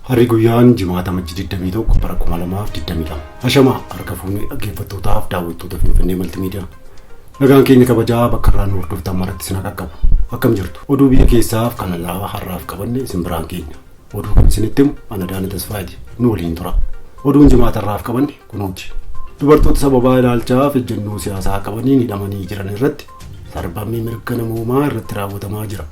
Harri guyyaan jimaata majji 21 bara 2022. Hashama harka fuunee dhaggeeffattootaaf daawwattoota Finfinnee Maltimiidiyaa. Nagaan keenya kabajaa bakka irraa nu hordoftan maratti isin haa qaqqabu. Akkam jirtu? Oduu biyya keessaaf kan alaa har'aaf qabanne isin biraan keenya. Oduu kan isinitti himu ana Daana Tasfaayeeti. Nu waliin tura. Oduun jimaata irraaf qabanne kunooti. Dubartoota sababaa ilaalchaa fi ejjennoo siyaasaa qabaniin hidhamanii jiran irratti sarbamni mirga namoomaa irratti raawwatamaa jira.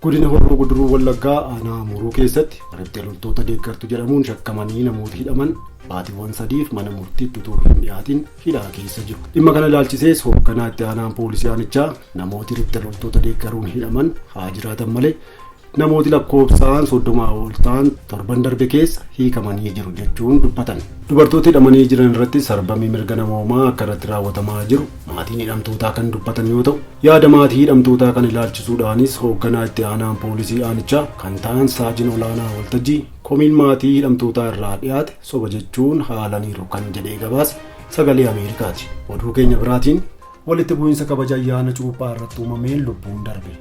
Godina Horroo Guduruu Wallaggaa aanaa Amuruu keessatti riphxee loltoota deeggartu jedhamuun shakkamanii namoota hidhaman baatiiwwan sadiif mana murtiitti utuu hin dhiyaatin hidhaa keessa jiru. Dhimma kana ilaalchisees hoogganaa itti aanaan poolisii aanichaa namooti riphxee loltoota deeggaruun hidhaman haa jiraatan malee Namooti lakkoofsaan 30 ol ta'an torban darbe keessa hiikamanii jiru jechuun dubbatan. Dubartoota hidhamanii jiran irratti sarbamii mirga namoomaa akka irratti raawwatamaa jiru maatiin hidhamtootaa kan dubbatan yoo ta'u, yaada maatii hidhamtootaa kana ilaalchisuudhaanis hoogganaa itti aanaan poolisii aanichaa kan ta'an saajin olaanaa waltajjii komiin maatii hidhamtootaa irraa dhiyaate soba jechuun haalaniiru kan jedhee gabaase sagalee Ameerikaati. Oduu keenya biraatiin walitti bu'iinsa kabaja ayyaana cuuphaa irratti uumameen lubbuun darbe.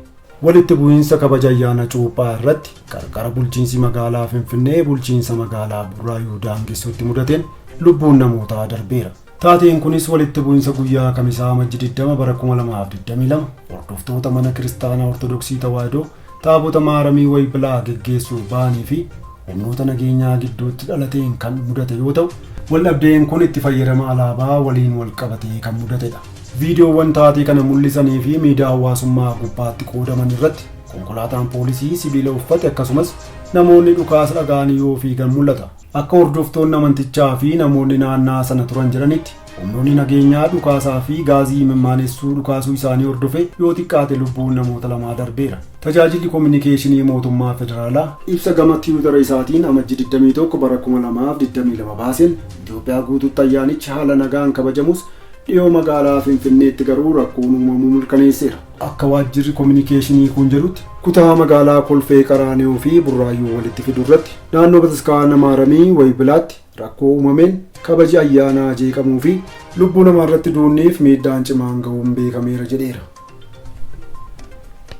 Walitti bu'iinsa kabaja ayyaana Cuuphaa irratti qarqara bulchiinsi magaalaa Finfinnee bulchiinsa magaalaa Burraayuu daangessutti mudateen lubbuun namootaa darbeera. Taateen kunis walitti bu'iinsa guyyaa Kamisaa Amajji 20 bara 2022 hordoftoota mana kiristaanaa Ortodoksii Tawaahidoo taabota Maaramii Waybilaa geggeessuuf ba'anii fi humnoota nageenyaa gidduutti dhalateen kan mudate yoo ta'u, waldhabdeen kun itti fayyadama alaabaa waliin walqabatee kan mudatedha. Viidiyoowwan taatee kana mul'isanii fi miidiyaa hawaasummaa gubbaatti qoodaman irratti konkolaataan poolisii sibiila uffate akkasumas namoonni dhukaasa dhaga'anii yoo fiigan mul'ata. Akka hordoftoonni amantichaa fi namoonni naannaa sana turan jedhanitti, Humnoonni nageenyaa dhukaasaa fi gaazii imimmaanessu dhukaasuu isaanii hordofee yoo xiqqaate lubbuun namoota lamaa darbeera. Tajaajilli Kominikeeshinii Mootummaa Federaalaa ibsa gama tiwitara isaatiin Amajji 21 bara 2022 baaseen, Itoophiyaa guutuutti ayyaanichi haala nagaan kabajamus dhiyoo magaalaa Finfinneetti garuu rakkoon uumamuu mirkaneesseera. Akka waajjirri kominikeeshinii kun jedhutti, kutaa magaalaa Kolfee Qaraaniyoo fi Burraayyuu walitti fidu irratti naannoo Bataskaana Maaramii, Waybilaatti, Rakkoo uumameen kabaji ayyaanaa jeeqamuu fi lubbuu namaa irratti duunniif miidhaan cimaan gahuun beekameera jedheera.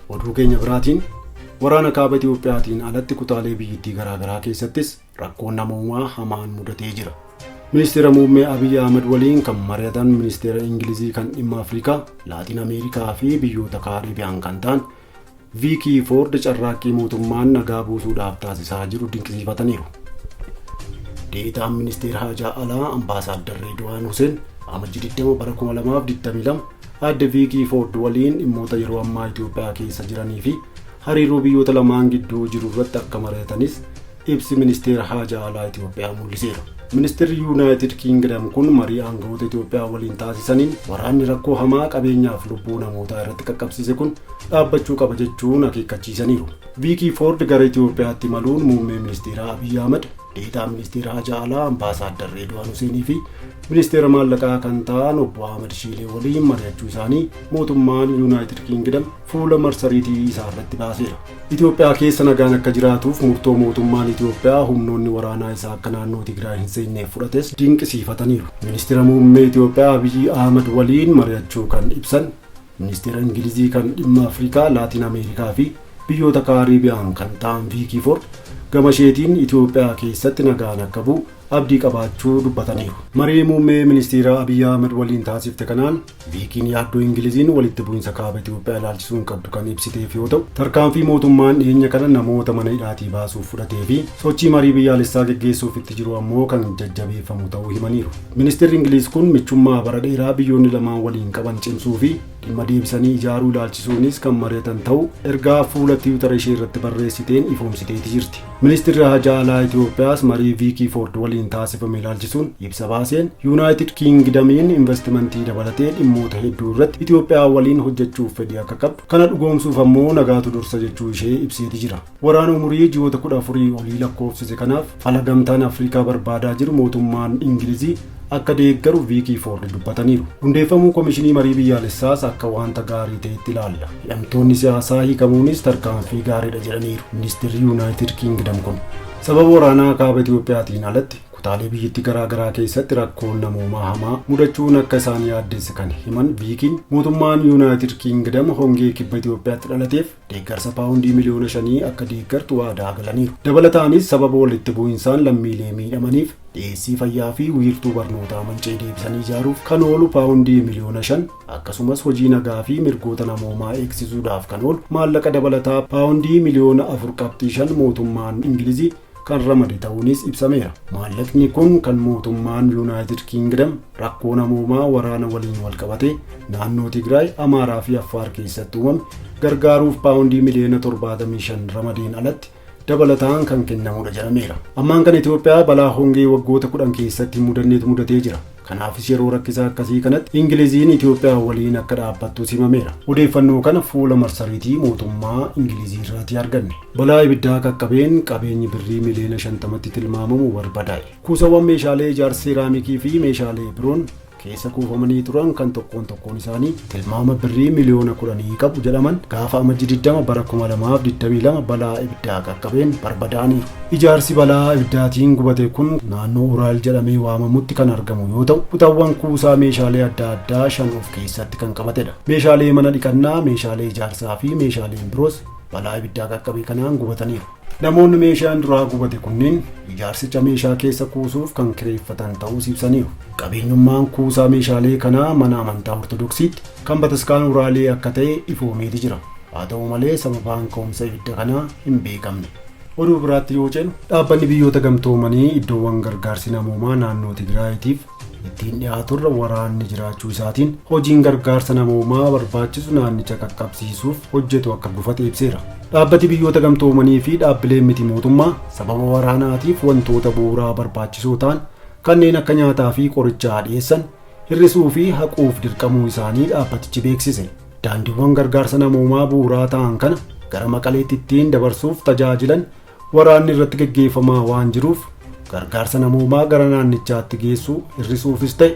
Oduu keenya biraatiin waraana kaaba Itiyoophiyaatiin alatti kutaalee biyyittii garaagaraa keessattis rakkoon namoomaa hamaan mudatee jira. Ministeera Muummee Abiy Ahmed waliin kan mari'atan Ministeera Ingilizii kan dhimma Afrikaa, Laatiin Ameerikaa fi biyyoota Kaariibiyaan kan ta'an Viikii Foord carraaqqii mootummaan nagaa buusuudhaaf taasisaa jiru dinqisiifataniiru. Deetaan Ministeera Haajaa Alaa Ambaasaaddar Reedwaan Huseen Amajji 20 bara 2022 aadde Viikii Foord waliin dhimmoota yeroo ammaa Itoophiyaa keessa jiranii fi hariiroo biyyoota lamaan gidduu jiru irratti akka mari'atanis ibsi ministeera haajaa alaa Itoophiyaa mul'iseera. Ministeerri Yuunaayitid Kiingidam kun marii aangawoota Itoophiyaa waliin taasisaniin waraanni rakkoo hamaa qabeenyaaf lubbuu namootaa irratti qaqqabsiise kun dhaabbachuu qaba jechuun akeekkachiisaniiru. Viikii Foord gara Itoophiyaatti imaluun muummee ministeeraa Abiy Ahmad, deetaa ministeera haajaa alaa ambaasaaddar Reedwaan Huseenii fi ministeera maallaqaa kan ta'an obbo Ahmad Shiilee waliin mari'achuu isaanii mootummaan Yuunaayitid Kiingidam fuula marsariitii isaa irratti baaseera. Itoophiyaa keessa nagaan akka jiraatuuf murtoo mootummaan Itoophiyaa humnoonni waraanaa isaa akka naannoo Tigraay hin seenneef fudhates dinqisiifataniiru. Ministira Muummee Itoophiyaa Abiyyi Ahmad waliin mari'achuu kan ibsan Ministeera Ingilizii kan dhimma Afrikaa, Laatiin Ameerikaa fi biyyoota Kaariibiyaan kan ta'an Viikii Foord gamasheetiin Itoophiyaa keessatti nagaan akka bu'u abdii qabaachuu dubbataniiru. Marii Muummee Ministiiraa Abiy Ahimad waliin taasifte kanaan Viikiin yaaddoo Ingiliziin walitti bu'insa Kaaba Itoophiyaa ilaalchisuun qabdu kan ibsiteef yoo ta'u, tarkaanfii mootummaan dhiyeenya kana namoota mana hidhaatii baasuuf fudhatee fi sochii marii biyyaalessaa geggeessuuf itti jiru ammoo kan jajjabeeffamu ta'uu himaniiru. Ministirri Ingiliiz kun michummaa bara dheeraa biyyoonni lamaan waliin qaban cimsuu fi Dhimma deebisanii ijaaruu ilaalchisuunis kan mari'atan ta'u ergaa fuula tiwutara ishee irratti barreessiteen ifoomsiteeti jirti. Ministirri Haajaa Alaa Itoophiyaas marii Viikii Foord waliin taasifame ilaalchisuun ibsa baaseen Yuunaayitid Kiingidamiin investimentii dabalatee dhimmoota hedduu irratti Itoophiyaa waliin hojjechuuf fedhii akka qabdu kana dhugoomsuuf ammoo nagaatu dursa jechuu ishee ibseeti jira. Waraana umurii ji'oota 14 olii lakkoofsise kanaaf fala gamtaan Afrikaa barbaadaa jiru mootummaan Ingilizii akka deeggaru Viikii Foord dubbataniiru. Hundeeffamuu Komishinii Marii Biyyaalessaas akka waanta gaarii ta'etti ilaalla. Hidhamtoonni siyaasaa hiikamuunis tarkaanfii gaariidha jedhaniiru Ministirri Yuunaayitid Kiingidam kun. Sababa waraanaa kaaba Itoophiyaatiin alatti kutaalee biyyatti garaa garaa keessatti rakkoon namoomaa hamaa mudachuun akka isaan yaaddeesse kan himan Viikiin mootummaan Yuunaayitid Kiingidam hongee kibba Itoophiyaatti dhalateef deeggarsa paawundii miliyoona shanii akka deeggartu waadaa galaniiru. Dabalataanis sababa walitti bu'insaan lammiilee miidhamaniif dhiyeessii fayyaa fi wiirtuu barnootaa manca'e deebisanii ijaaruuf kan oolu paawundii miliyoona shan akkasumas hojii nagaa fi mirgoota namoomaa eegsisuudhaaf kan oolu maallaqa dabalataa paawundii miliyoona afur qabxii shan mootummaan Ingilizii kan ramade ta'uunis ibsameera. Maallaqni kun kan mootummaan Yuunaayitid Kiingidam rakkoo namoomaa waraana waliin walqabatee naannoo Tigraay, Amaaraa fi Affaar keessatti uumame gargaaruuf paawundii miliyoona 75 ramadeen alatti dabalataan kan kennamudha jedhameera. Ammaan kan Itoophiyaa balaa hongee waggoota 10 keessatti hin mudannetu mudatee jira. Kanaafis yeroo rakkisaa akkasii kanatti Ingiliziin Itoophiyaa waliin akka dhaabbattus himameera. Odeeffannoo kana fuula marsariitii mootummaa Ingilizii irraatii arganne. Balaa ibiddaa qaqqabeen qabeenyi birrii miliyoona 50tti tilmaamamu barbadaa'e. Kuusawwan meeshaalee ijaarsa seeraamikii fi meeshaalee biroon keessa kuufamanii turan kan tokkoon tokkoon isaanii tilmaama birrii miliyoona 10 qabu jedhaman gaafa Amajji 20 bara 2022 balaa ibiddaa qaqqabeen barbadaa'aniiru. Ijaarsi balaa ibiddaatiin gubate kun naannoo Uraal jedhamee waamamutti kan argamu yoo ta'u, kutaawwan kuusaa meeshaalee adda addaa shan of keessatti kan qabatedha. Meeshaalee mana dhiqannaa, meeshaalee ijaarsaa fi meeshaaleen biroos balaa ibiddaa qaqqabe kanaan gubataniiru. Namoonni meeshaan duraa gubate kunneen ijaarsicha meeshaa keessa kuusuuf kan kireeffatan ta'uus ibsaniiru. Qabeenyummaan kuusaa meeshaalee kanaa mana amantaa Ortodoksiitti kan bataskaana Uraalee akka ta'e ifoomeeti jira. Haa ta'u malee sababaan ka'umsa ibidda kanaa hin beekamne. Oduu biraatti yoo ceenu, Dhaabbanni Biyyoota Gamtoomanii iddoowwan gargaarsi namoomaa naannoo Tigraayiitiif ittiin dhiyaaturra waraanni jiraachuu isaatiin hojiin gargaarsa namoomaa barbaachisu naannicha qaqqabsiisuuf hojjetu akka gufate ibseera. Dhaabbati biyyoota gamtoomanii fi dhaabbileen miti mootummaa sababa waraanaatiif wantoota bu'uuraa barbaachisoo ta'an kanneen akka nyaataa fi qorichaa dhiyeessan hir'isuu fi haquuf dirqamuu isaanii dhaabbatichi beeksise. Daandiiwwan gargaarsa namoomaa bu'uuraa ta'an kana gara maqaleetti ittiin dabarsuuf tajaajilan Waraanni irratti gaggeeffamaa waan jiruuf gargaarsa namoomaa gara naannichaatti geessuu hir'isuufis ta'e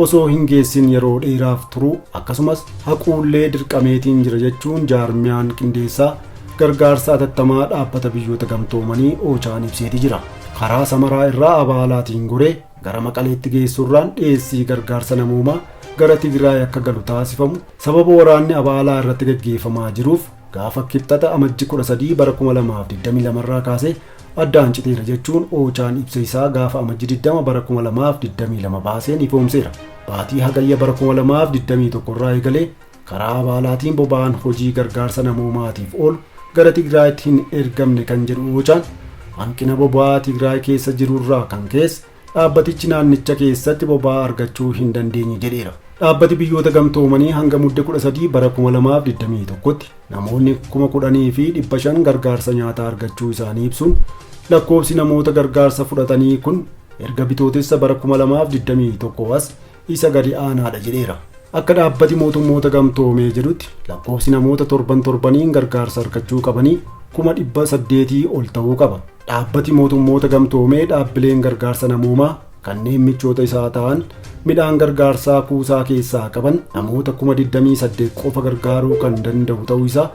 osoo hin geessin yeroo dheeraaf turuu akkasumas haquullee dirqameetiin jira jechuun jaarmiyaan qindeessaa gargaarsa atattamaa dhaabbata biyyoota gamtoomanii oochaan ibseeti jira. Karaa samaraa irraa abaalaatiin goree gara maqaleetti geessuurraan dhiyeessii gargaarsa namoomaa gara Tigraay akka galu taasifamu sababa waraanni abaalaa irratti gaggeeffamaa jiruuf Gaafa Kibxata Amajji 13 bara 2022 irraa kaasee addaan citeera jechuun Oochaan ibsa isaa gaafa Amajji 20 bara 2022 baaseen ifoomseera. Baatii Hagayya bara 2021 irraa eegalee karaa abaalaatiin boba'aan hojii gargaarsa namoomaatiif oolu gara Tigraayitti hin ergamne kan jedhu Oochaan hanqina boba'aa Tigraay keessa jirurraa kan ka'es Dhaabbatichi naannicha keessatti boba'aa argachuu hin dandeenye jedheera. Dhaabbati biyyoota gamtoomanii hanga mudde 13 bara 2021tti namoonni 10,500 gargaarsa nyaataa argachuu isaanii ibsuun lakkoofsi namoota gargaarsa fudhatanii kun erga bitootessa bara 2021 as isa gadi aanaadha jedheera. Akka dhaabbati mootummoota gamtoomee jedhutti lakkoofsi namoota torban torbaniin gargaarsa argachuu qabanii kuma dhibba saddeetii ol ta'uu qaba. Dhaabbati mootummoota gamtoomee dhaabbileen gargaarsa namoomaa kanneen michoota isaa ta'an midhaan gargaarsaa kuusaa keessaa qaban namoota kuma 28 qofa gargaaruu kan danda'u ta'uu isaa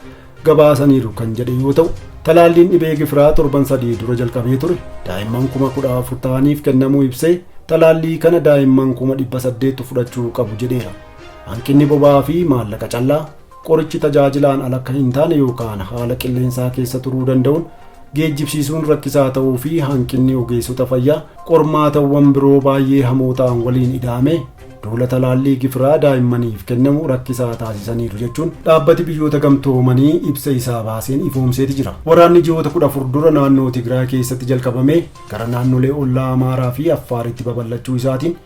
gabaasaniiru kan jedhe yoo ta'u talaalliin dhibee gifiraa torban sadii dura jalqabee ture daa'imman kuma kudha afur ta'aniif kennamuu ibsee talaallii kana daa'imman kuma dhibba saddeettu fudhachuu qabu jedheera hanqinni boba'aa fi maallaqa callaa qorichi tajaajilaan ala akka hin taane yookaan haala qilleensaa keessa turuu danda'uun geejjibsiisuun rakkisaa ta'uu fi hanqinni ogeessota fayyaa qormaatawwan biroo baay'ee hamoo ta'an waliin ida'ame Duula talaallii gifiraa daa'immaniif kennamu rakkisaa taasisaniiru jechuun dhaabbati biyyoota gamtoomanii ibsa isaa baaseen ifoomseeti jira. Waraanni ji'oota 14 dura naannoo Tigraay keessatti jalqabamee gara naannolee ollaa Amaaraa fi Affaaritti babal'achuu isaatiin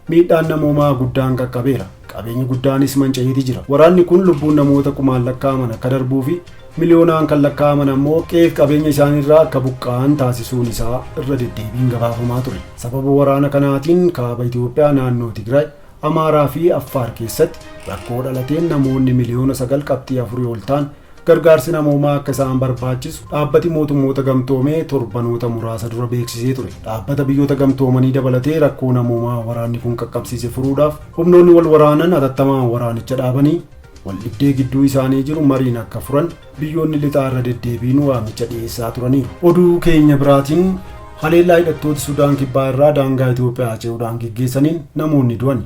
miidhaan namoomaa guddaan qaqqabeera. Qabeenyi guddaanis manca'eeti jira. Waraanni kun lubbuun namoota kumaan lakkaa'aman akka darbuu fi Miliyoonaan kan lakkaa'aman ammoo qe'eef qabeenya isaaniirraa akka buqqa'an taasisuun isaa irra deddeebiin gabaafamaa ture. Sababa waraana kanaatiin Kaaba Itoophiyaa naannoo Tigraay, Amaaraa fi Affaar keessatti rakkoo dhalateen namoonni miliyoona 9.4 ol ta'an gargaarsi namoomaa akka isaan barbaachisu Dhaabbati Mootummoota Gamtoomee torbanoota muraasa dura beeksisee ture. Dhaabbata Biyyoota Gamtoomanii dabalatee rakkoo namoomaa waraanni kun qaqqabsiise furuudhaaf humnoonni wal waraanan atattamaan waraanicha dhaabanii Waldhibdee gidduu isaanii jiru mariin akka furan biyyoonni lixaa irra deddeebiin waamicha dhiyeessaa turaniiru. Oduu keenya biraatiin haleellaa hidhattooti Sudaan Kibbaa irraa daangaa Itoophiyaa ce'uudhaan geggeessaniin namoonni du'ani.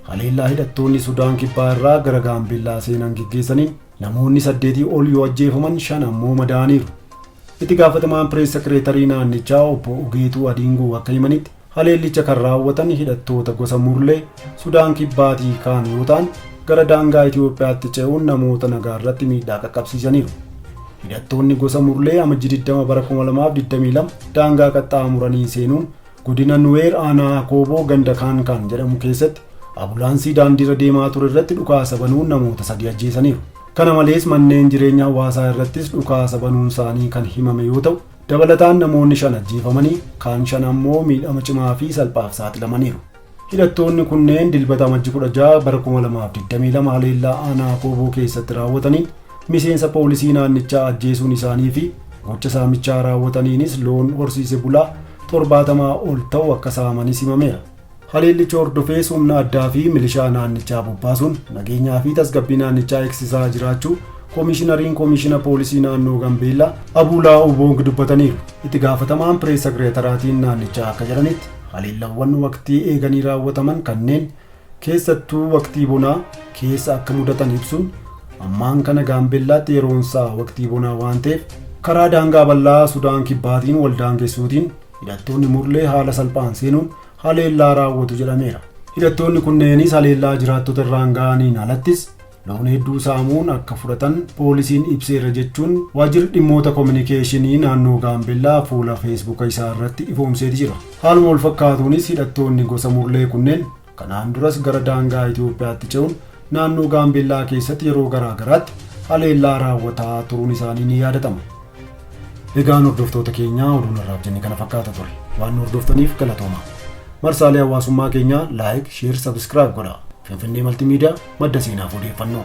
Haleellaa hidhattoonni Sudaan Kibbaa irraa gara Gaambeellaa seenan geggeessaniin namoonni saddeetii ol yoo ajjeefaman shan ammoo madaa'aniiru. Itti gaafatamaan pirees sekireetarii naannichaa obbo Ugeetuu Adiingoo akka himanitti Haleellicha kan raawwatan hidhattoota gosa Murlee Sudaan Kibbaatii ka'an yoo ta'an, gara daangaa Itoophiyaatti ce'uun namoota nagaa irratti miidhaa qaqqabsiisaniiru. Hidhattoonni gosa Murlee Amajji 20 bara 2022 daangaa qaxxaamuranii seenuun godina Nuweer aanaa Akooboo ganda Kaankaan jedhamu keessatti abulaansii daandiirra deemaa ture irratti dhukaasa banuun namoota sadii ajjeesaniiru. Kana malees manneen jireenya hawaasaa irrattis dhukaasa banuun isaanii kan himame yoo ta'u, Dabalataan namoonni shan ajjeefamanii, kaan shan ammoo miidhama cimaa fi salphaaf saaxilamaniiru. Hidhattoonni kunneen Dilbata Amajji 16 bara 2022 haleellaa aanaa Kooboo keessatti raawwataniin miseensa poolisii naannichaa ajjeesuun isaanii fi gocha saamichaa raawwataniinis loon horsiise bulaa 70 ol ta'u akka saamanis himameera. Haleellicha hordofees humna addaa fi milishaa naannichaa bobbaasuun nageenyaa fi tasgabbii naannichaa eegsisaa jiraachuu Koomishinariin Koomishina Poolisii Naannoo Gambeellaa Abuulaa Uboong dubbataniiru. Itti gaafatamaan Pirees Sekireetaraatiin naannichaa akka jedhanitti haleellawwan waqtii eeganii raawwataman kanneen keessattuu waqtii bonaa keessa akka mudatan ibsuun ammaan kana Gaambeellaatti yeroonsaa waqtii bonaa waan ta'eef karaa daangaa bal'aa Sudaan Kibbaatiin wal daangessuutiin Hidhattoonni Murlee haala salphaan seenuun haleellaa raawwatu jedhameera. Hidhattoonni kunneenis haleellaa jiraattota irraan ga'aniin alattis loon hedduu saamuun akka fudhatan poolisiin ibseera jechuun waajjirri dhimmoota kominikeeshinii naannoo Gaambellaa fuula feesbuuka isaa irratti ifoomseeti jira. Haaluma walfakkaatuunis hidhattoonni gosa Murlee kunneen Kanaan duras gara daangaa Itoophiyaatti ce'uun naannoo Gaambeellaa keessatti yeroo garaa garaatti haleellaa raawwataa turuun isaanii ni yaadatama. Egaan hordoftoota keenyaa oduun har'aaf jenne kana fakkaata ture. Waan nu hordoftaniif galatooma. Marsaalee hawaasummaa keenyaa laayik, sheer, sabiskiraayib godhaa. Finfinnee Maltiimiidiyaa madda seenaaf odeeffannoo.